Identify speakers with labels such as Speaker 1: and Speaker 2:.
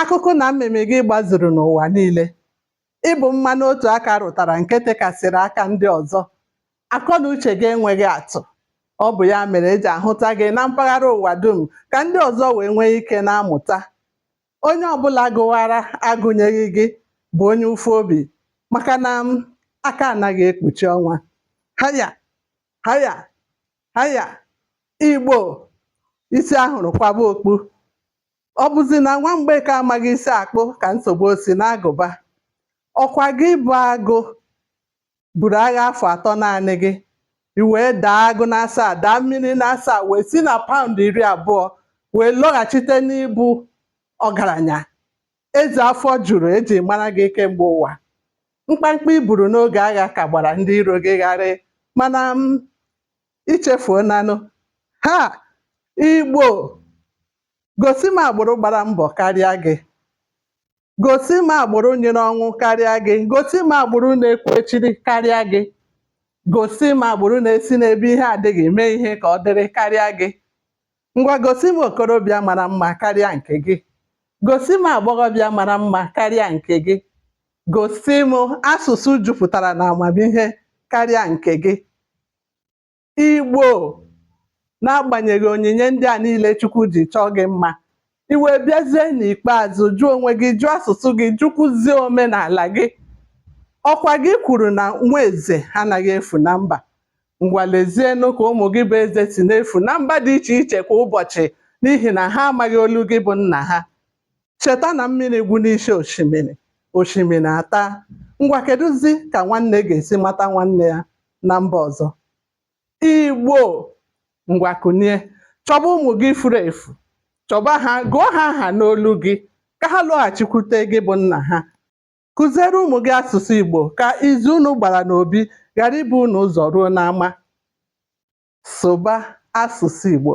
Speaker 1: Akụkụ na mmịmị gị gbazuru n'ụwa niile. Ị bụ mmanụ otu aka rụtara nke tekasịrị aka ndị ọzọ. Akọ na uche gị enweghị atụ. Ọ bụ ya mere e ji ahụta gị na mpaghara ụwa dum ka ndị ọzọ wee nwee ike na-amụta. Onye ọ bụla gụwara agụnyeghị gị bụ onye ụfụ obi maka na aka anaghị ekpuchi ọnwa. Haya! Haya! Haya! Igbo! Isi a hụrụ kwaba okpu. ọ bụzi na nwa mgbeke amaghị isi akpụ ka nsogbu o si n'agụba ọkwa gị bụ agụ buru agha afọ atọ naanị gị i wee daa agụ n'asaa daa mmiri n'asaa wee si na paụnd iri abụọ wee lọghachite n'ịbụ ọgaranya eze afọ juru e ji mara gị kemgbe ụwa mkpamkpa i buru n'oge agha ka gbara ndị iro gị gharị mana i chefuonanụ ha igbo Gosi m agbụrụ gbara mbọ karịa gị. Gosi m agbụrụ nyịrị ọnwụ karịa gị. Gosi m agbụrụ na-ekwu echiri karịa gị. Gosi m agbụrụ na-esi n'ebe ihe adịghị mee ihe ka ọ dịrị karịa gị. Ngwa gosi m okorobịa mara mma karịa nke gị. Gosi m agbọghọbịa mara mma karịa nke gị. Gosi m asụsụ jupụtara n'amamihe karịa nke gị. Igbo, n'agbanyeghị onyinye ndị a niile Chukwu ji chọọ gị mma, i wee bịazie n'ikpeazụ jụ onwe gị, jụ asụsụ gị, jụkwuzie omenala gị. Ọkwa gị kwuru na nwa eze anaghị efu na mba. Ngwa lezienụ ka ụmụ gị bụ eze si na-efu na mba dị iche iche kwa ụbọchị n'ihi na ha amaghị olu gị bụ nna ha. Cheta na mmiri gwụ n'isi osimiri, osimiri ataa. Ngwa kedụzi ka nwanne ga-esi mata nwanne ya? na mba ọzọ igbo ngwa kunie chọba ụmụ gị furu efu chọba ha gụọ ha aha n'olu gị ka ha lọghachikwute gị bụ nna ha kụziere ụmụ gị asụsụ igbo ka izu unu gbara n'obi ghara ibu unu ụzọ ruo n'ama sụba asụsụ igbo